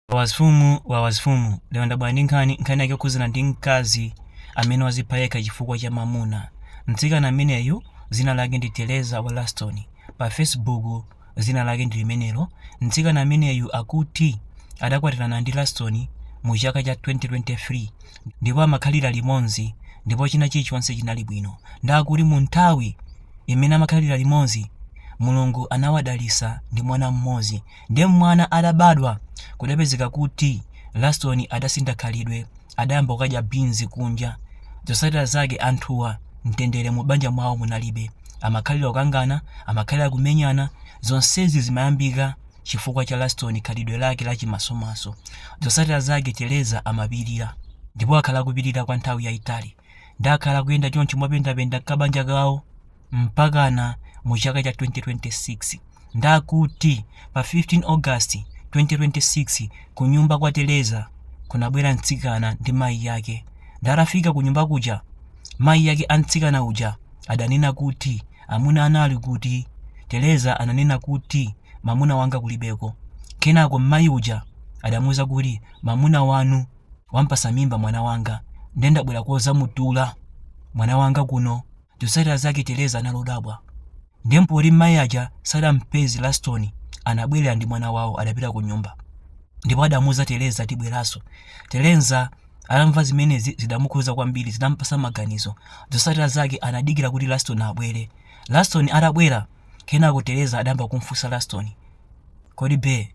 Wawa zifumu Wawa zifumu lero ndabwera ndi nkhani nkhani yake yokhuzana ndi mkazi amene wazipha yekha chifukwa cha mamuna mtsikana ameneyu zina lake ndi tereza wa laston pa facebook zina lake ndi limenelo mtsikana ameneyu akuti adakwatirana ndi laston mu chaka cha 2023 ndipo amakhalira limodzi ndipo china chilichonse chinali bwino ndakuti mu nthawi imene amakhalira limodzi mulungu anawadalisa ndi mwana mmodzi Nde mwana atabadwa, kudapezeka kuti Laston adasintha khalidwe, adayamba kukadya beans kunja. Zotsatira zake anthuwa mtendere mu banja mwawo munalibe. Amakhalira kukangana, amakhalira kumenyana, zonsezi zimayambika chifukwa cha Laston khalidwe lake la chimasomaso. Zotsatira zake Tereza amapilira. Ndipo wakhala akupilira kwa nthawi yaitali. Nde akhala akuyenda chonchi mopendapenda kabanja kawo. mpakana mu chaka cha 2026 ndakuti pa 15 August 2026 kunyumba kwa Tereza kunabwera mtsikana ndi mayi yake. Nde atafika kunyumba kuja mayi yake a mtsikana uja adanena kuti amuna anu ali kuti Tereza ananena kuti mamuna wanga kulibeko. Kenako mayi uja adamuuza kuti mamuna wanu wampasa mimba mwana wanga nde ndabwera kuzamutula mwana wanga kuno Zotsatira zake Tereza anali odabwa. Ndiye mpoti mayi aja sadampeze Lastoni anabwerera ndi mwana wawo adapita kunyumba. Ndipo adamuuza Tereza tibweranso. Tereza atamva zimenezi zidamukhuza kwambiri zidampasa maganizo. Zotsatira zake anadikira kuti Lastoni abwere. Lastoni atabwera kenako Tereza adayamba kumfunsa Lastoni. Kodi bae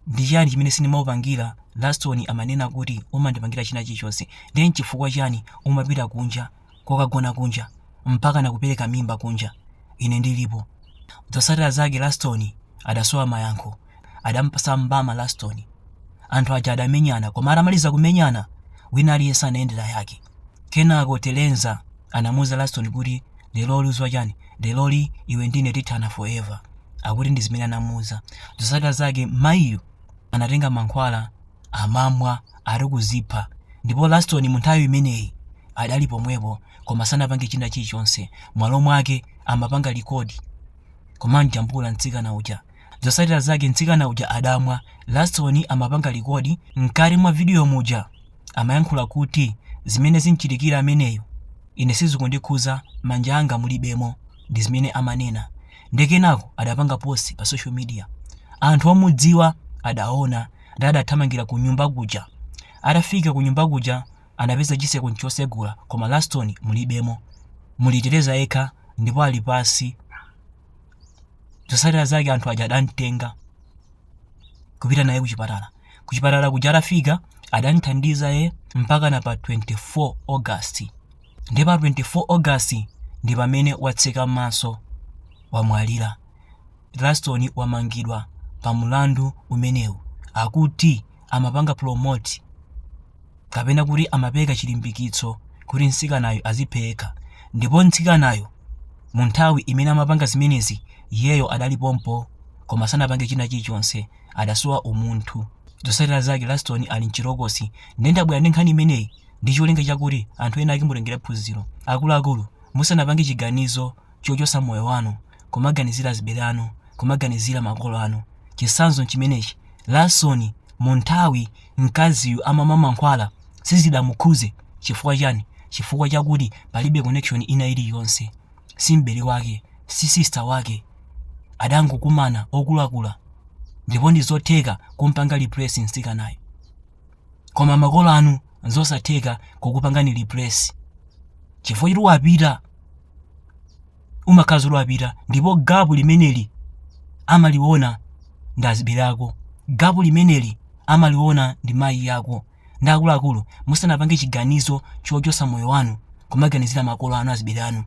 ndi chani chimene sindimakupangira Lastoni amanena kuti umandipangira china chilichonse. Ndiye nchifukwa chani umapita kunja kukagona kunja mpaka nakupereka mimba kunja ine ndilipo zotsatira zake laston adasowa mayankho adampasa mbama laston anthu aja adamenyana koma atamaliza kumenyana wina aliyense anayendera yake kenako tereza anamuuza laston kuti leroli uziwa chani leroli iwe ndine tithana forever akuti ndi zimene anamuuza zotsatira zake mayiyo anatenga mankhwala amamwa ati kuzipha ndipo laston munthawi imeneyi adali pomwepo koma sanapange china chilichonse mwalo mwake amapanga likodi kumamjambula mtsikana uja zosatira zake mtsikana uja adamwa laston amapanga likodi mkati mwa vidiyo muja amayankhula kuti zimene zimchitikira ameneyo ine sizikundikhuza manja anga mulibemo ndi zimene amanena nde kenako adapanga post pa social media anthu omudziwa adaona ndi adathamangira kunyumba kuja. Atafika kunyumba kuja anapeza chiseko nchosegula koma Laston mulibemo. Muli Tereza yekha ndipo ali pasi. Zosatira zake anthu aja adamtenga kupita naye kuchipatala. Kuchipatala kuja atafika adamthandiza ye mpaka na pa 24 August. Ndi pa 24 August ndi pamene watseka maso wamwalira. Laston wamangidwa pa mlandu umenewu akuti amapanga promote kapena kuti amapereka chilimbikitso kuti mtsikanayu aziphe yekha ndipo mtsikanayu mu nthawi imene amapanga zimenezi iyeyo adali pompo koma sanapange china chilichonse adasowa umunthu zotsatira zake Laston ali mchitokosi nde ndabwera ndi nkhani imeneyi ndi cholinga chakuti anthu ena ake mutengere phunziro akuluakulu musanapange chiganizo chochosa moyo wanu kumaganizira azibele anu kumaganizira makolo anu chisanzo nchimenechi Laston munthawi mkaziyu amamwa mankhwala sizidamukhuze chifukwa chani chifukwa chakuti palibe connection ina iliyonse si m'bele wake si sister wake adangokumana okulukulu ndipo ndizotheka kumpanga replace mtsikanayo koma makolo anu nzosatheka kukupangani replace chifukwa choti wapita umakhala kuti wapita ndipo gapu limeneli amaliona ndi azibere ako gapu limeneli amaliona ndi mayi yako ndi akuluakulu musanapange chiganizo chochotsa moyo wanu kumaganizira makolo anu azibere anu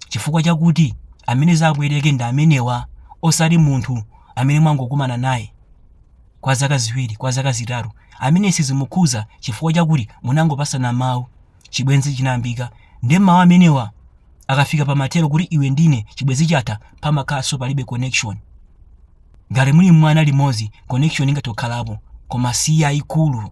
chifukwa chakuti amene zawapweteke ndi amenewa osati munthu amene mwangokumana naye kwa zaka ziwiri kwa zaka zitatu amene sizimukhuza chifukwa chakuti munangopasana mawu chibwenzi chinayambika ndi mawu amenewa akafika pamathero kuti iwe ndine chibwenzi chatha pamakhalanso palibe connection ngati muli mwana limodzi connection ingatho kukhalapo koma si yayikulu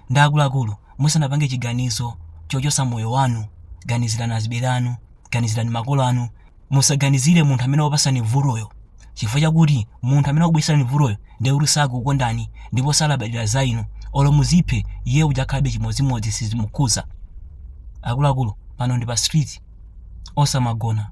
Ndi akuluakulu, musanapange chiganizo chochotsa moyo wanu, ganizirani azibele anu, ganizirani makolo anu. Musaganizire munthu amene wakupatsani vutoyo, chifukwa chakuti munthu amene wakubweretserani vutoyo ndiye kuti sakukukondani ndipo salabadira za inu. Olo muziphe, iye uja ukhalabe chimodzimodzi sizimukhudza. Akuluakulu, pano ndi pa street. Osamagona.